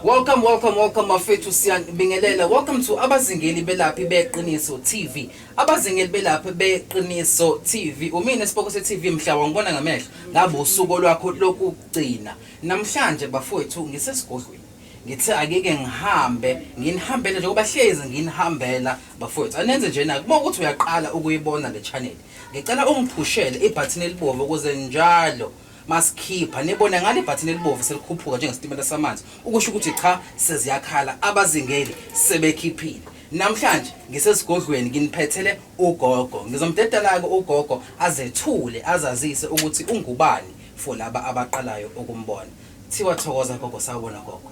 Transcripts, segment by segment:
Welcome welcome welcome mafethu siyabingelela welcome to abazingeli belaphi beqiniso TV abazingeli belaphi beqiniso TV umina siboko se TV mhla wangibona ngamehlo ngabe usuku lwakho lokugcina namhlanje bafowethu ngisesigodlweni ngithe akike ngihambe nginihambele njengoba hlezi nginihambela bafowethu anenze nje na kuba ukuthi uyaqala ukuyibona le channel ngicela ungiphushele ibhathini elibomvu ukuze njalo masikhipha nibone ngale bhathini elibovu selikhuphuka njengesitimela samanzi ukusho ukuthi cha seziyakhala abazingeli sebekhiphile namhlanje ngisesigodlweni nginiphethele ugogo ngizomdedela-ke ugogo azethule azazise ukuthi ungubani for laba abaqalayo ukumbona thiwa thokoza gogo sawubona gogo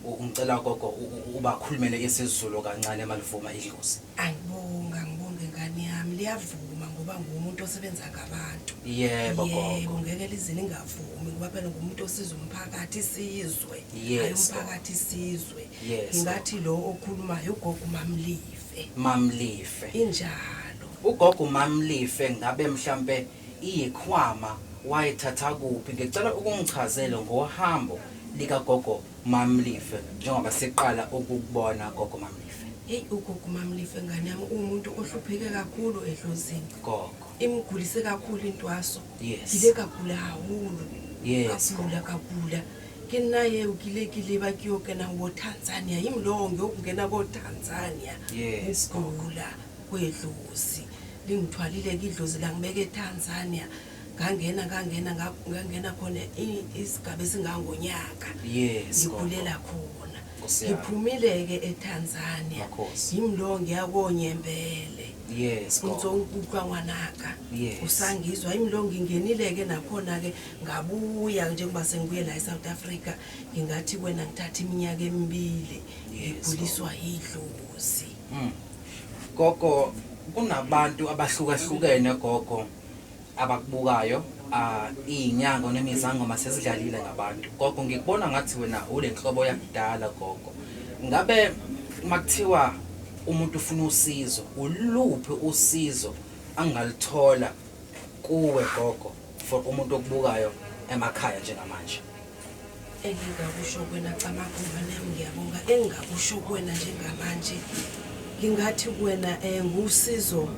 Ngicela gogo ubakhulumele isiZulu kancane malivuma idlozi. Angibonga ngibonge ngane yami liyavuma ngoba ngumuntu osebenza ngabantu. Yebo gogo. Yebo ngeke lizini ngavumi ngoba phela ngumuntu osiza umphakathi isizwe. Hayi umphakathi isizwe. Ngingathi lo okhulumayo ugogo uMamlife. Mamlife. Injalo. Ugogo uMamlife ngabe mhlambe iyikhwama wayithatha kuphi ngicela ukungichazele ngohambo lika gogo mamlife njengoba siqala ukukubona gogo mamlife Hey ugogo mamlife ngane yami umuntu ohlupheke kakhulu edlozini gogo imgulise kakhulu intwaso Yes. ile kagula hahulu Yes, kagula kagula ke nna eo ke ile ke leba ke yo kena wo tanzania yim lowo ngiyokungena ko tanzania Yes, ukugula kwedlozi lingithwalile ke idlozi langibeka eTanzania ngangena ngangena ngangena khona isigaba esingangonyaka yes ngikhulela khona ngiphumile ke eTanzania ngimlo ngiyakonyembele yes ngizongikutwa ngwanaka usangizwa imlo ngingenile ke nakhona ke ngabuya njengoba sengibuye la eSouth Africa ngingathi kwena ngithatha iminyaka emibili ngiguliswa idlozi Mm. Gogo kunabantu abahlukahlukene gogo abakubukayo ah, iy'nyanga onemizangoma sezidlalile ngabantu gogo ngikubona ngathi wena ule nhlobo yakudala gogo ngabe uma kuthiwa umuntu ufuna usizo uluphi usizo angalithola kuwe gogo for umuntu okubukayo emakhaya njengamanje engingakusho kuwena Camaguva nami ngiyabonga engingakusho kuwena njengamanje ngingathi kuwena um ngusizo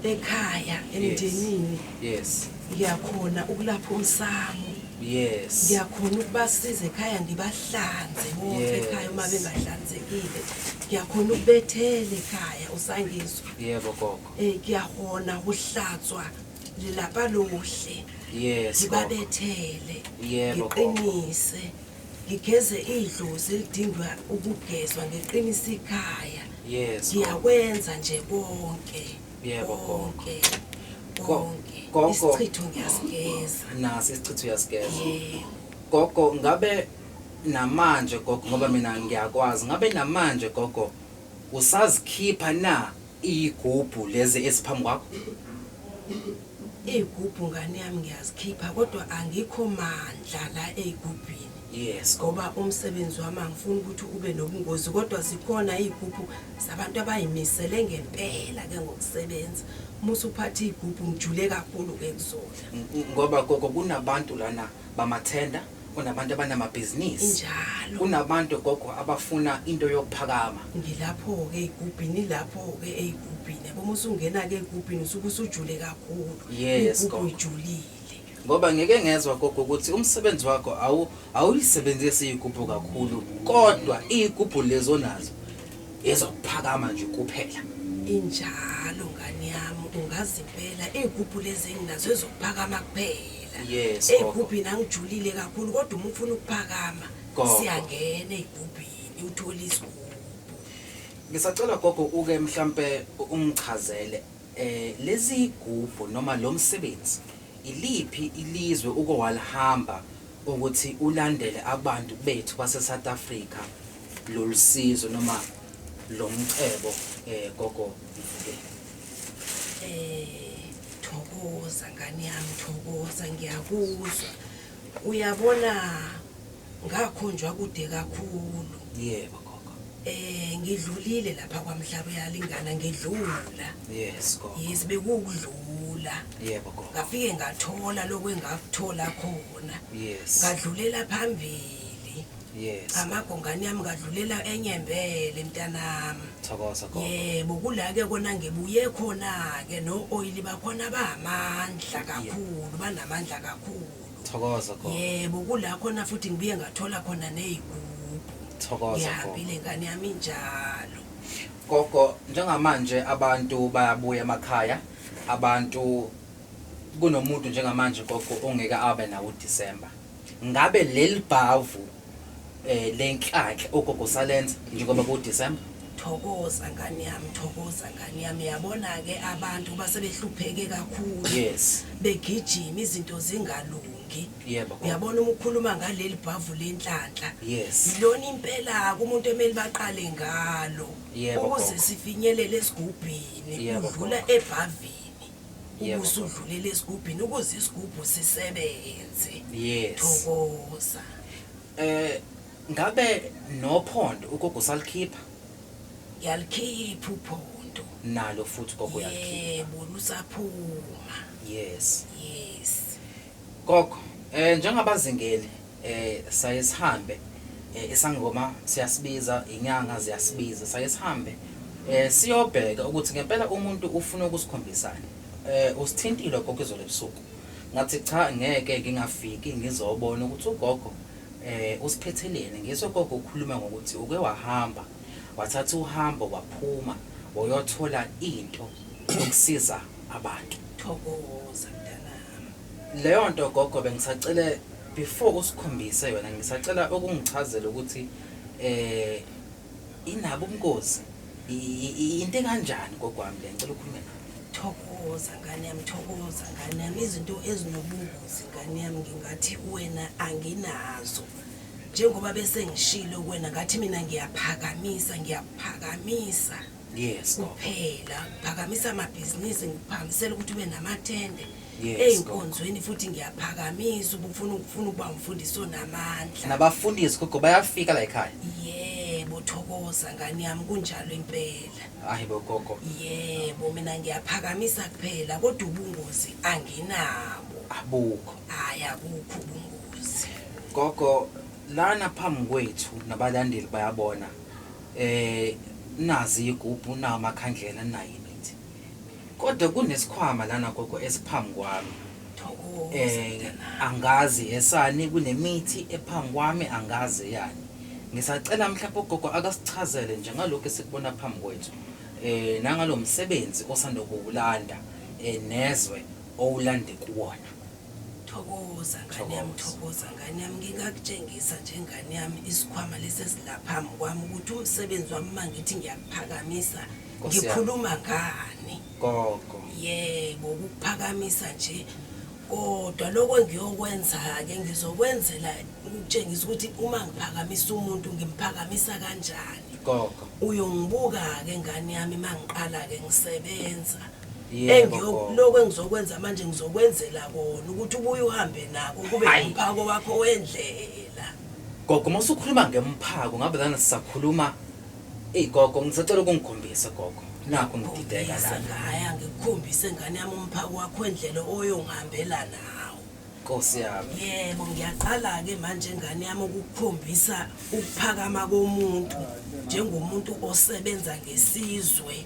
ekhaya emndenini yes ngiyakhona ukulapha umsamo yes ngiyakhona ukubasiza ekhaya ngibahlanze bonke ekhaya uma bengahlanzekile ngiyakhona ukubethela ekhaya usangizwa yebo gogo um ngiyahona ukuhlatswa lilapha luhle yes ngibabethele ngiqinise ngigeze idlozi elidingwa ukugezwa ngiqinise ikhaya yes ngiyakwenza nje konke yebo konke konke isichitho ngiyasigeza nasi isichitho uyasigeza gogo ngabe namanje gogo ngoba mina ngiyakwazi ngabe namanje gogo usazikhipha na Iyigubhu lezi eziphambi kwakho? Iy'gubhu ngane yami ngiyazikhipha kodwa angikho mandla la ey'gubhini Yes. ngoba umsebenzi wami angifuni ukuthi ube nobungozi kodwa zikhona iy'gubhu zabantu abay'misele ngempela ke ngokusebenza. Uma usuphatha iy'gubhu ngijule kakhulu-ke kuzona. Ngoba gogo kunabantu lana bamathenda, kunabantu abanamabhizinisi. Injalo. Kunabantu gogo abafuna into yokuphakama. Ngilapho-ke ey'gubhini, ilapho-ke ey'gubhini. Yabo uma usungena-ke ey'gubhini usuke usujule kakhulu. Yes, Iy'gubhu gogo. uyijulile. Ngoba ngeke ngezwa gogo ukuthi umsebenzi wakho awu awuyisebenzisi iy'gubhu kakhulu kodwa iy'gubhu lezi onazo ezokuphakama nje kuphela. Injalo ngane yami, ungazi impela iy'gubhu lezi enginazo ezokuphakama kuphela. Yes. Hey gubhini angijulile kakhulu kodwa uma ufuna ukuphakama siyangena igubhini uthola isigubhu. Ngisacela gogo uke mhlambe ungichazele eh lezi gubhu noma lo msebenzi iliphi ilizwe uke walihamba ukuthi ulandele abantu bethu base South Africa lolusizo noma lomcebo eh gogo mfukeni Eh, thokoza ngane yami thokoza ngiyakuzwa uyabona ngakhonjwa kude kakhulu yebo gogo eh ngidlulile lapha kwamhlaba uyalingana ngidlula yes gogo yes bekukudlula yebo gogo ngafike ngathola lokwengathola khona yes ngadlulela phambili Yes. Amagongane yami ngadlulela enyembele mntanami. Thokoza gogo. Yebo kula ke kona ngibuye khona ke no oil bakhona bamandla kakhulu banamandla kakhulu. Thokoza gogo. Yebo kula khona futhi ngibuye ngathola khona nezigubhu. Thokoza gogo. Ngihambile ngane yami njalo. Gogo njengamanje abantu bayabuya emakhaya abantu kunomuntu njengamanje gogo ongeke abe nawo uDecember. Ngabe leli bhavu eh lenhlanhla ugogo salenza njengoba ku December? Thokoza ngane yami, thokoza ngane yami. Yabona ke abantu base behlupheke kakhulu. Yes. Begijima izinto zingalungi. Yebo. Uyabona uma ukhuluma ngaleli bhavu lenhlanhla. Yes. Lona impela kumuntu emeli baqale ngalo. Yebo, Ukuze gogo. sifinyelele esigubhini Yebo, udlula ebhavini. Yebo. ubusudlulele esigubhini ukuze isigubhu sisebenze Yes. thokoza Eh ngabe nophondo ugogo salikhipha ngiyalikhipha uphondo nalo futhi gogo yalikhipha. yebo lusaphuma Yes. yes Gogo eh njengabazingeli eh saye sihambe eh, isangoma siyasibiza inyanga ziyasibiza saye sihambe eh siyobheka ukuthi ngempela umuntu ufuna ukusikhombisana eh usithintile gogo izolo ebusuku ngathi cha ngeke ngingafiki ngizobona ukuthi ugogo eh usiphetheleni ngiso gogo ukhuluma ngokuthi uke wahamba wathatha uhambo waphuma wayothola into yokusiza abantu thokoza mntanami Leyonto gogo bengisacela before usikhombise yona ngisacela ukungichazela ukuthi eh inabo ubungozi into enganjani gogwami le ngicela ukhulume nawe thokoza ngane yami thokoza ngane yami izinto ezinobungozi ngane yami ngingathi wena anginazo njengoba bese ngishilo wena ngathi mina ngiyaphakamisa ngiyaphakamisa Yes gogo. Phela phakamisa amabhizinisi ngiphakamisela ukuthi ube namathende. Yes, Ezinkonzweni futhi ngiyaphakamisa ubufuna ukufuna ukuba umfundisi onamandla. Nabafundisi gogo bayafika la ekhaya. Yebo thokoza ngani yami kunjalo impela. Hayi bo gogo. Yebo mina ngiyaphakamisa kuphela kodwa ubungozi anginabo. Abukho. Hayi akukho ubungozi. Gogo lana phambi kwethu nabalandeli bayabona. Ehh nazi iyigubhu nawo amakhandlela ninayo imithi kodwa kunesikhwama lana gogo esiphambi kwami ehh angazi esani kunemithi ephambi kwami angazi eyani ngisacela mhlawumbe ugogo akasichazele nje ngalokhu esikubona phambi kwethu ehh nangalomsebenzi osanda kuwulanda ehh nezwe owulande kuwona. Thokoza ngane yami, thokoza ngane yami. Ngingakutshengisa nje ngane yami isikhwama lesi esilaphambi kwami ukuthi umsebenzi wami uma ngithi ngiyakuphakamisa ngikhuluma ngani. Gogo. Yebo, ukuphakamisa nje kodwa lokho ngiyokwenza-ke ngizokwenzela ukutshengisa ukuthi uma ngiphakamisa umuntu ngimphakamisa kanjani. Gogo. Uyongibuka-ke ngane yami uma ngiqala-ke ngisebenza. engiyokuloko engizokwenza manje ngizokwenzela kona ukuthi ubuye uhambe nako kube umphako wakho wendlela gogo uma usukhuluma ngemphako ngabe lana sisakhuluma eyi gogo ngisacela ukungikhombise gogo nakho ngidideka lanaaya ngikukhombise ngane yami umphako wakho wendlela oyongihambela nawo nkosi yami yebo ngiyaqala-ke manje ngane yami ukukukhombisa ukuphakama komuntu njengomuntu osebenza ngesizwe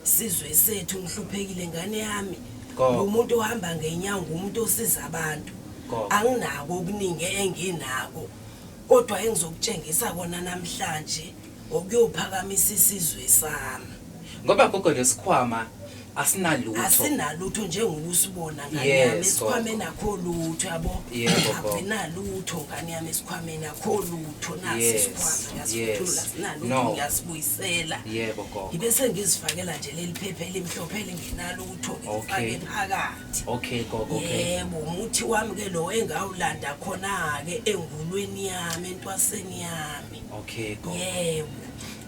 Sizwe sethu ngihluphekile ngane yami. Umuntu ohamba ngenyawo ngumuntu osiza abantu. Anginako okuningi enginako. Kodwa engizokutshengisa kona namhlanje okuyophakamisa isizwe sami. Ngoba gogo lesikhwama asinalutho asinalutho njengoba usibona ngane yami esikhwameni akho lutho yabo asinalutho ngane yami esikhwameni akho lutho nasi isikhwama ngasithula sinalutho ngiyasibuyisa ngisela yebo gogo ngibe sengizifakela nje leli phepha elimhlophe elingenalo ukuthi ngifake phakathi okay gogo okay yebo umuthi wami ke lo engawulanda khona ke engulweni yami entwaseni yami okay gogo yebo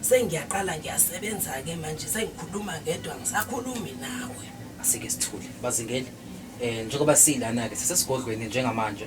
sengiyaqala ngiyasebenza ke manje sengikhuluma ngedwa ngisakhulumi nawe asike sithule bazingeli eh njengoba silana ke sisesigodlweni njengamanje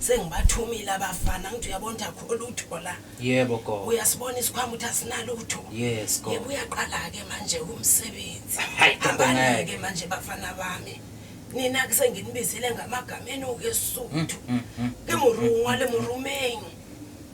sengibathumile abafana ngithi uyabona ukuthi akho lutho la yebo go uyasibona isikhwama ukuthi asinalutho yes go yebo uyaqala ke manje umsebenzi hayi ngeke manje bafana bami nina ke senginibizile ngamagama enu ke suthu mm, mm, mm, ke murungwa le murumeng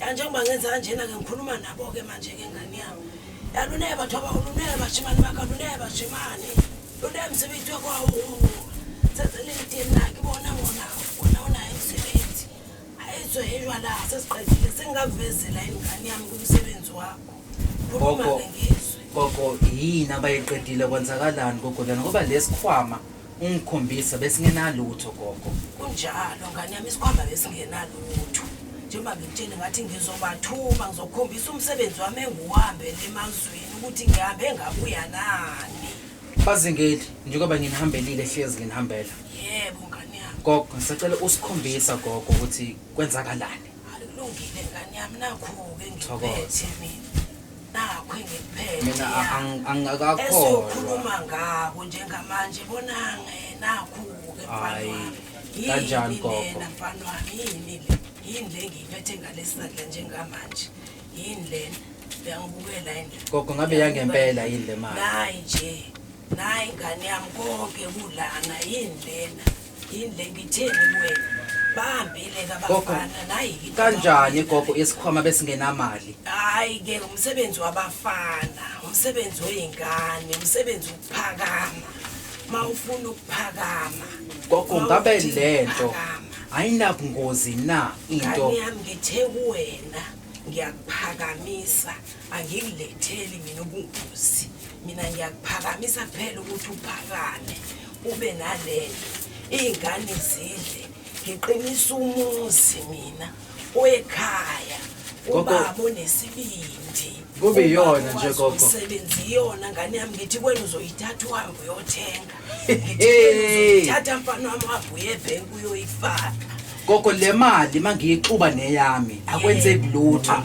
ya njengoba ngenza kanjena ke ngikhuluma nabo-ke manje-ke ngane yami yaluneke bathu abaluneke bashimane bakho aluneke bashimane luneke msebenzi wekwawo sezelidini nakhe bona ngona wona unaye msebenzi ayizoyelwa la sesiqedile sengingakuvezela ingane yami kumsebenzi wakho khuluma-ke ngizwe gogo yini abayiqedile kwenzakalani gogo lana ngoba lesikhwama Ungikhombise besingenalutho gogo. Kunjalo ngane yami isikhwama besingenalutho. Njengoba ngikutshele ngathi ngizobathuma ngizokhombisa umsebenzi wami engiwuhambele emazweni ukuthi ngihambe ngabuya nani. Bazingeli njengoba nginihambelile hlezi nginihambela. Yebo ngane yami. Gogo ngisacela usikhombisa gogo ukuthi kwenzakalani. Akulungile ngane yami nakho-ke ngiphethe mina. Nakho engikuphethe. Mina a- ya. ang- angingakakholwa. Esiyokhuluma ngako njengamanje bonange nakho-ke mfana Hhayi, wami. Yini kanjani lena, gogo? mfana wami yini le? Yini le ngiyiphethe ngalesi sandla njengamanje? Yini lena? Uyangibukela yini la? Gogo ngabe yangempela yini le mali? Nayi nje. Nayi ngane yami konke kulana yini lena? yini le ngitheni kuwena bahambile kabafana nayi kanjani gogo isikhwama besingenamali hayi ke umsebenzi wabafana umsebenzi weyingane umsebenzi ukuphakama ma ufuna ukuphakama gogo ngabe lento ayinabungozi na into yami ngithe kuwena ngiyakuphakamisa angikiletheli mina ubungozi mina ngiyakuphakamisa kuphela ukuthi uphakame ube nalento iy'ngane zidle ngiqinisa umuzi mina oyekhaya ubaba onesibindi kube iyona nje gogo sebenzi iyona ngane yami ngithi kwena uzoyithatha uhambe uyothenga thatha mfana wami wabuye ebhenki uyoyifaka gogo le mali uma ngiyixuba neyami akwenzeki lutho ah,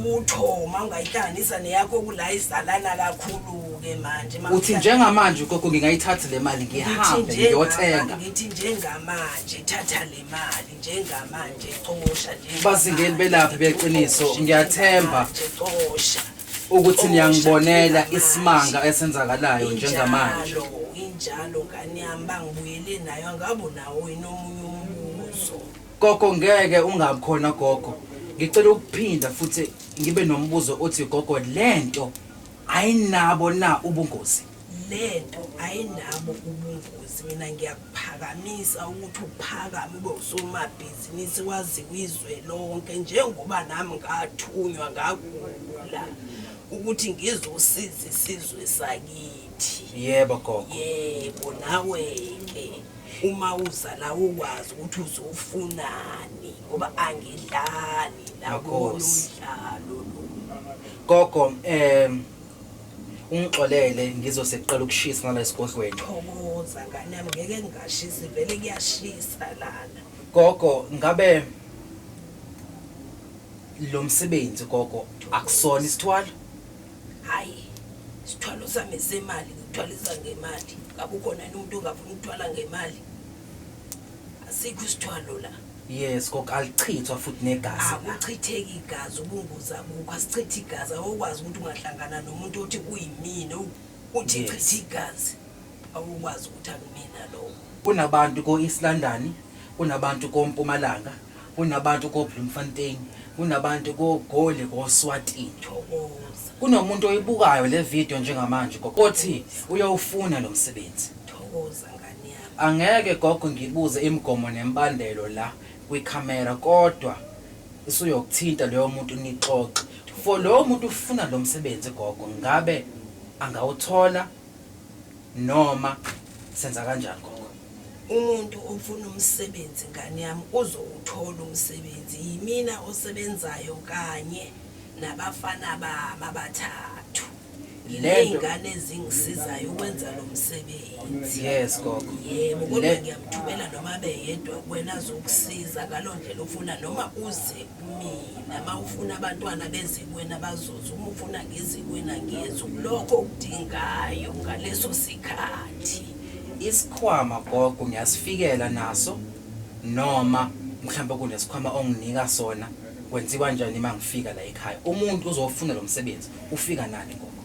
lutho uma ungayihlanganisa neyakho kula izalana kakhulu-ke manje uthi njengamanje ugogo ngingayithathi le mali ngihambe ngiyothenga ngithi njengamanje thatha le mali njengamanje cosha nje bazingeni belaphi beqiniso ngiyathemba cosha ukuthi niyangibonela isimanga esenzakalayo njengamanje Injalo, injalo ngane yami bangibuyele nayo angabu nawo yini omunye umbuzo gogo ngeke ungabi khona gogo ngicela ukuphinda futhi ngibe nombuzo othi gogo lento ayinabo na ubungozi lento ayinabo ubungozi mina ngiyakuphakamisa ukuthi uphakame ube usomabhizinisi waziwa izwe lonke njengoba nami ngathunywa ngagula ukuthi ngizosiza isizwe sakithi yebo gogo yebo nawe ke uma uza la ukwazi ukuthi uzofunani ngoba angidlali la kodwa umdlalo gogo um ungixolele ngizose kuqala ukushisa ngala esigodlweni thokoza ngane yami ngeke ngingashisi vele kuyashisa lana gogo ngabe lo msebenzi gogo akusona isithwalo hayi isithwalo sami semali ngithwalisa ngemali ngabe ukhona yini umuntu ongafuna ukuthwala ngemali asikho isithwalo la yes kok alichithwa futhi negazi la akuchitheki igazi ubungozi abukho asichithe igazi awukwazi ukuthi ungahlangana nomuntu othi kuyimina u- uthi Yes. chitha igazi awukwazi ukuthi akumina lowo kunabantu ko-east london kunabantu kompumalanga kunabantu ko-bloemfontein kunabantu kogoli koswatini thokoza kunomuntu oyibukayo le video njengamanje kok othi uyawufuna lo msebenzi thokoza ngane Angeke gogo ngibuze imigomo nembandelo la kwi camera kodwa isuyokuthinta loyo muntu nixoxe for lowo muntu ufuna lomsebenzi gogo ngabe angawuthola noma senza kanjani gogo. Umuntu ofuna umsebenzi ngane yami uzowuthola umsebenzi yimina osebenzayo kanye nabafana bami abathathu. ley'ngane ezingisizayo ukwenza lo msebenzi yes gogo yebo kodwa ngiyamthumela noma abe yedwa kwena azokusiza ngalo ndlela ofuna noma uze kumina ma ufuna abantwana beze kwena bazoza uma ufuna ngeze kwena ngiyenza ukulokho okudingayo ngaleso sikhathi isikhwama gogo ngiyasifikela naso noma mhlawumbe kunesikhwama onginika sona Kwenziwa njani uma ngifika la ekhaya? Umuntu uzofuna lo msebenzi ufika nani ngoba?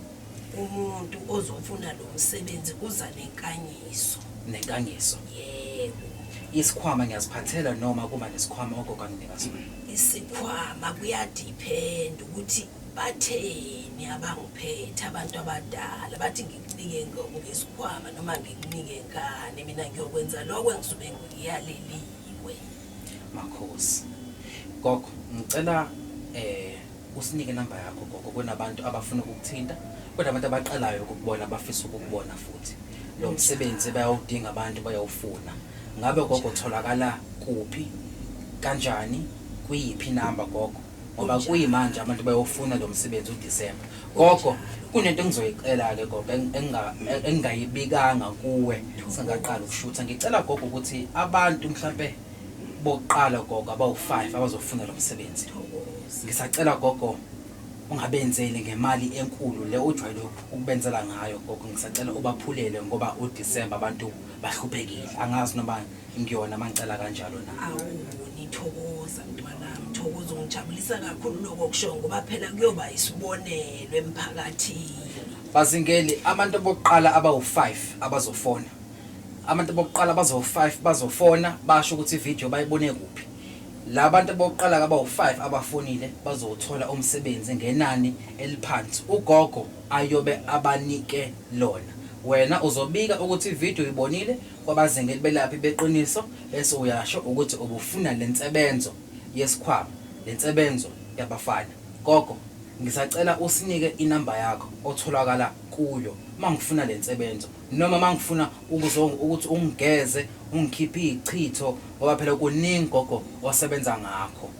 Umuntu ozofuna lo msebenzi uza nenkanyiso. Nenkangiso. Yebo. Isikhwama ngiyaziphathela noma kuba nesikhwama ogogo anginika sona. Isikhwama kuyadiphenda ukuthi batheni abangiphethe abantu abadala bathi ngikunike ngo- ngesikhwama noma ngikunike ngani mina ngiyokwenza lokho engisuke ngiyaleliwe. Makhosi. Gogo ngicela eh usinike number yakho gogo kunabantu abafuna ukukuthinta kunabantu abaqalayo ukukubona abafisa ukukubona futhi lo msebenzi bayawudinga abantu bayawufuna ngabe gogo tholakala kuphi kanjani kuyiphi number gogo ngoba kuyimanje abantu bayofuna lo msebenzi uDisemba. Gogo, kunento engizoyicela-ke gogo eng- enginga- e- engingayibikanga kuwe singaqala ukushutha. Ngicela gogo ukuthi abantu mhlampe bokuqala gogo abawu-five abazofuna lo msebenzi. Ngisacela gogo ungabenzeli ngemali enkulu le ojwayele ukubenzela ngayo gogo. Ngisacela ubaphulele ngoba uDisemba abantu bahluphekile. Angazi noma ngiyona manicela kanjalo na awu nithokoza mntwanami thokoza ungijabulisa kakhulu lokho kusho ngoba phela kuyoba isibonelo emphakathini bazingeli abantu bokuqala abawu-5 abazofona abantu bokuqala bazo-5 bazofona basho ukuthi ividiyo bayibone kuphi la bantu bokuqala kabawu-5 abafonile bazowuthola umsebenzi ngenani eliphansi ugogo ayobe abanike lona wena uzobika ukuthi ividiyo uyibonile kwabazingeli belaphi beqiniso bese uyasho ukuthi ubufuna lensebenzo yeskhwama lensebenzo yabafana gogo ngisacela usinike inumber yakho otholakala kuyo mangifuna lensebenzo noma mangifuna ukuzo ukuthi ungigeze ungikhiphe izichitho ngoba phela kuningi gogo osebenza ngakho.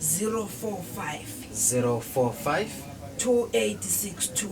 045 045 2862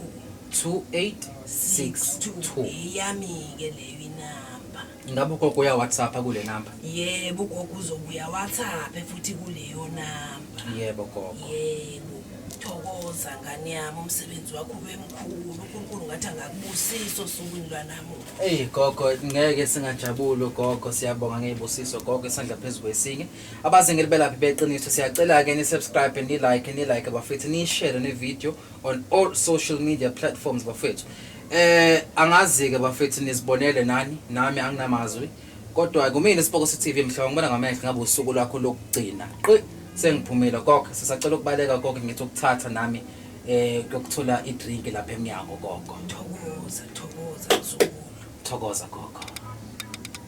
2862 eyami-ke leyo inamba ngabe ugogo uyawhatsappa kule namba yebo ugogo uzobuya whatsappe futhi kuleyo namba yebo gogo yebo thokoza ngane yami umsebenzi wakho ube mkhulu unkulunkulu ngathi angakubusiso osukwini lwanamuhla eyi gogo ngeke singajabuli ugogo siyabonga ngey'busiso gogo isandla phezu kwesinye abazingeli belaphi beqiniso siyacela-ke ni-subscribe ni-like ni-like bafethu niyishere ne-video on all social media platforms bafethu eh angazi-ke bafethu nizibonele nani nami anginamazwi kodwa kumina isiboko se-tv mhlaba ngibona ngamehlo ngabe usuku lwakho lokugcina qi sengiphumile koko sisacela ukubaleka koko ngithi ukuthatha nami eh kuyokuthola i-drink lapha emnyango koko thokoza thokoza thokoza koko